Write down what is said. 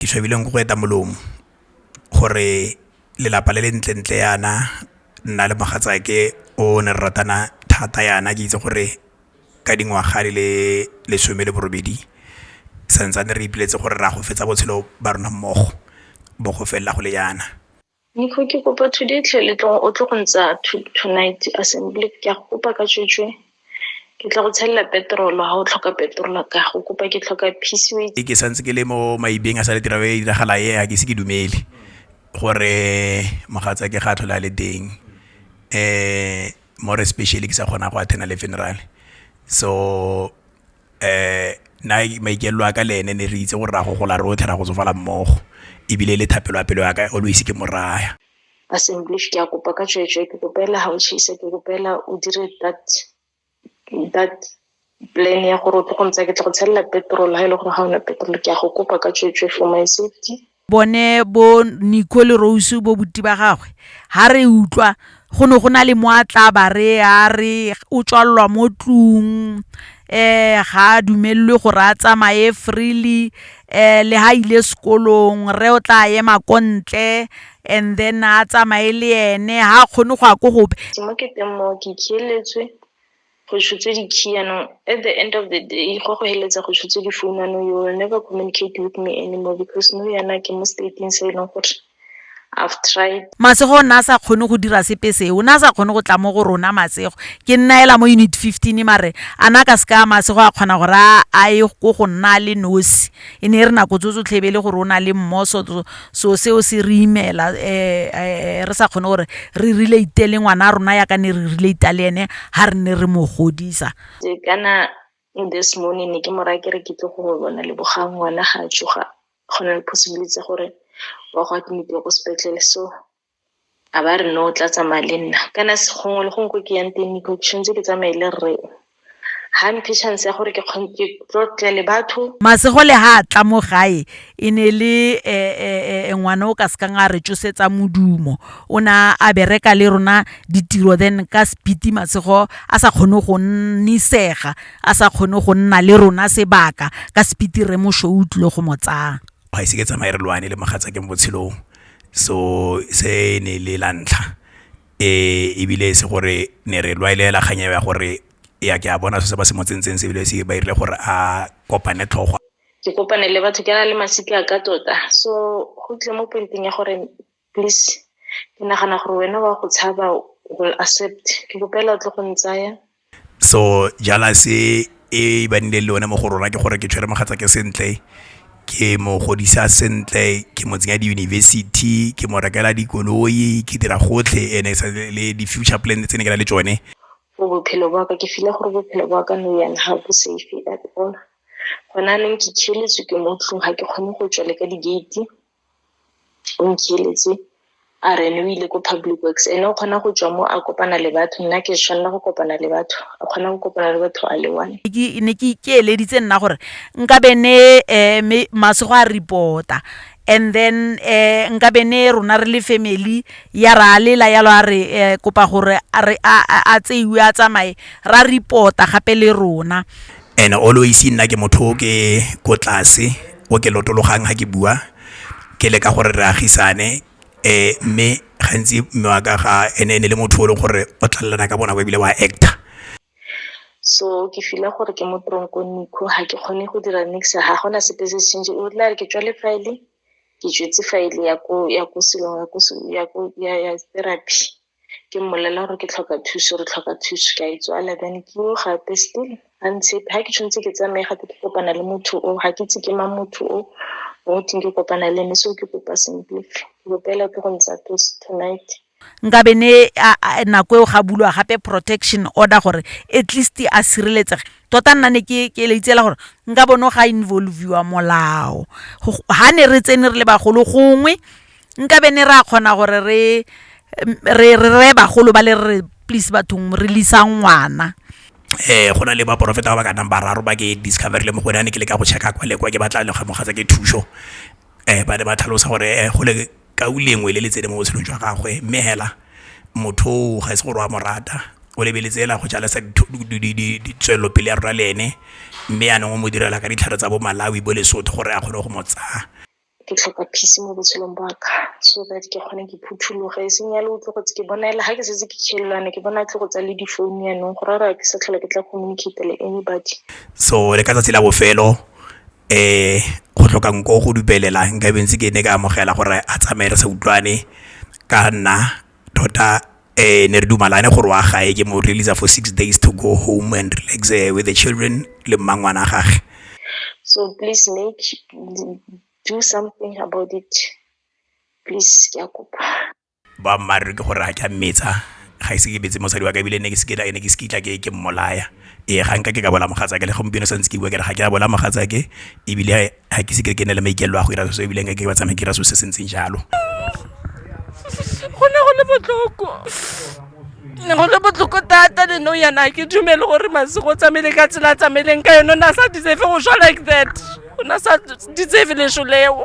ke tshwebileng go eta molomo gore lelapa le le ntlentle yana nna le mogatsake o ne re ratana thata yana ke itse gore ka dingwaga di le lesome le borobedi santsane re ipoleletse gore re a go fetsa botshelo ba rona mmogo bo go felela go le yana. Nico, ke kopa today tlhe le tlo o tlo go ntsha tonight assembly ke a go kopa ka tswetswe ke tla go tshelela petrol ha o tlhoka petrol ka go kopa ke tlhoka peace way ke santse ke le mo maibeng a sa le tira e diragala e a ke se ke dumele gore mogatsa ke ga tlhola le teng eh more especially ke sa kgona go attend le funeral so na maikalelo a ka le ene ne re itse gore ra go gola rotlhe ra go tsofala mmogo ebile le thapelo ya pelo ya ka always ke moraya. Assemblies ke a kopa ka tsweetswe ke kopa fela ga o chase ke kopa fela o dire that that plan ya gore o tle go ntsaya ke tle go tshelela petrol ha e le gore ga ona petrol ke a go kopa ka tsweetswe for my safety. bone bo Nico le Rose bo buti ba gagwe ha re utlwa go ne go na le mo a tla ba re a re o tswalelwa mo tlung eh ga dumelwe gore a tsamaye freely eh le ha ile sekolong re o tla ema ko ntle and then a tsamaye le ene ha kgone go ya ko gope mo ke teng mo ke khieletswe go tshotse di-key yanong at the end of the day go go heletsa go tshotse di-phone ano you will never communicate with me anymore because no yana ke mo stateng se e leng gore I've tried. Masego o ne a sa kgone go dira sepe se o ne a sa kgone go tla mo go rona masego ke nna ela mo unit fifteen mare a na ka se ka masego a kgona gore a ye ko go nna le nosi e ne e re nako tso tsotlhe e be e le gore o na le mmoso so seo se re imela um re sa kgone gore re relate le ngwana a rona yaka ne re relate le ene ga re ne re mo godisa kana this morning ne ke mo raya ke re ke tle go bona le bogang ngwana ga a tsoga go na le possibility gore wa go admitiwa ko sepetlele so A ba re no o tla tsamaya le nna, kana gongwe le gongwe ko ke yang teng Nico ke tshwanetse ke tsamaye le rre o. Ga mphe chance ya gore ke tlotle le batho. Masegole ha a tla mo gae e ne le ngwana o ka se kang a re tsosetsa modumo. O ne a bereka le rona ditiro then ka speed Masego a sa kgone go nnisega, a sa kgone go nna le rona sebaka ka speed Rre Moshoa o tlile go mo tsaya. ga ise ke tsamaye re lwane le mogatsake mo botshelong, so se ne e le la ntlha ebile e se gore ne re lwalela kgang eo ya gore e ya ke a bona se ba se mo tsentseng se ebile se ba dirile gore a kopane tlhogo. Ke kopane le batho ke na le masika a ka tota so go tlile mo point-eng ya gore. Please, ke nagana gore wena wa go tshaba o will accept. Ke go pela o tlo go ntsaya. So jealousy e ba nile le yone mo go rona ke gore ke tshwere mogatsa ke sentle ke mo godisa sentle ke mo tsenya di-university ke mo rekela dikoloi ke dira gotlhe ene sa le di-future plan tse ne ke na le tsone for bophelo ba ka ke file gore bophelo ba ka no yana ga bo safe at all gona neng ke tšheletswe ke mo tlong ga ke kgone go tswa le ka di-gate o ntheeletse a re ene o ile ko public works ene o kgona go tswa mo a kopana le batho nna ke tshwanela go kopana le batho a kgona go kopana le batho a le one ne ke ikeeleditse nna gore nka be ne um mase go a report-a and then um nka be ne rona re le family ya re a lela yalo a re um kopa gore a tseiwe a tsamaye ra report-a gape le rona. and always nna ke motho o ke ko tlase o ke lotologang ha ke bua ke le ka gore re agisane um mme gantsi mme wa ka ga ene e ne le motho o leng gore o tlalelana ka bonako ebile wa actor so ke fila gore ke mo tronkong nikho ga ke kgone go dira nix ga gona sepe se change o tla re ke tswale file ke tswetse file ya ko ya ko silong ya ko ya ko ya ya therapy ke mmolelela gore ke tlhoka thuso re tlhoka thuso ke a itswala then ke yo gape still ga ntse ga ke tshwanetse ke tsamaye gape ke kopana le motho o ga ke itse ke mang motho o o teng ke kopana le ene so ke kopa simple ke kopela ke go ntsha thuso tonight nkabe ne nako eo ga bulwa gape protection order gore at least a sireletsege tota nna ne ke ke leitsela gore nka bone ga involviwa molao ga ne re tsene re le bagolo gongwe nkabe ne re a kgona gore re re reye bagolo ba le re re please bathong re lisa ngwana um go na le baporofeta ba ba ka nang bararo ba ke discovery le mo gone a ne ke le ka go checka kwa le kwa ke batla le kgamoga tsa ke thuso um ba ne ba tlhalosa gore go le kau lengwe le le tsene mo botshelong jwa gagwe mme hela motho o ga e se gore wa mo rata o lebeletse ela go jalesa tswelelopele ya rona le ene mme yanong o mo direla ka ditlhare tsa bo malawi bo lesotho gore a kgone go mo tsaya Ke tlhoka peace mo botshelong ba ka, so that ke kgone ke phuthologe, e seng yalo o tle go tse ke bona ele ga ke setse ke tšhelelwane, ke bona a tle go tsaya le di-phone yanong, go raya gore ga ke sa tlhola ke tla communicate-a le anybody. So le ka tsatsi la bofelo go tlhoka nko go dupelela, nkabe ntse ke ne ka amogela gore a tsamaye re sa utlwane ka nna, tota ne re dumalane gore wa gae ke mo release-a for six days to go home and relax with the children le mmangwana a gage so please make do something about it please ke a kopa boammaaruri ke gore a ke a mmetsa ga ise ke betse mosadi wa ka ebile ne ke se ke ne ke se kitla ke ke mmolaya ee ga nka ke ka bola mogatsa ke le gompieno santse ke bua ke re ga ke a bola mogatsa ke ebile ga ke seke ke ne le maikelelo a go ira so ebileng ke ba tsamaya ke ira so se se ntseng jalo go ne go le botlhoko ne go le botlhoko thata le no yana ke dumele gore masego tsamaile ka tsela tsamaileng ka yone o ne a sa ditsefe go swa like that o ne a sa ditsefe leso leo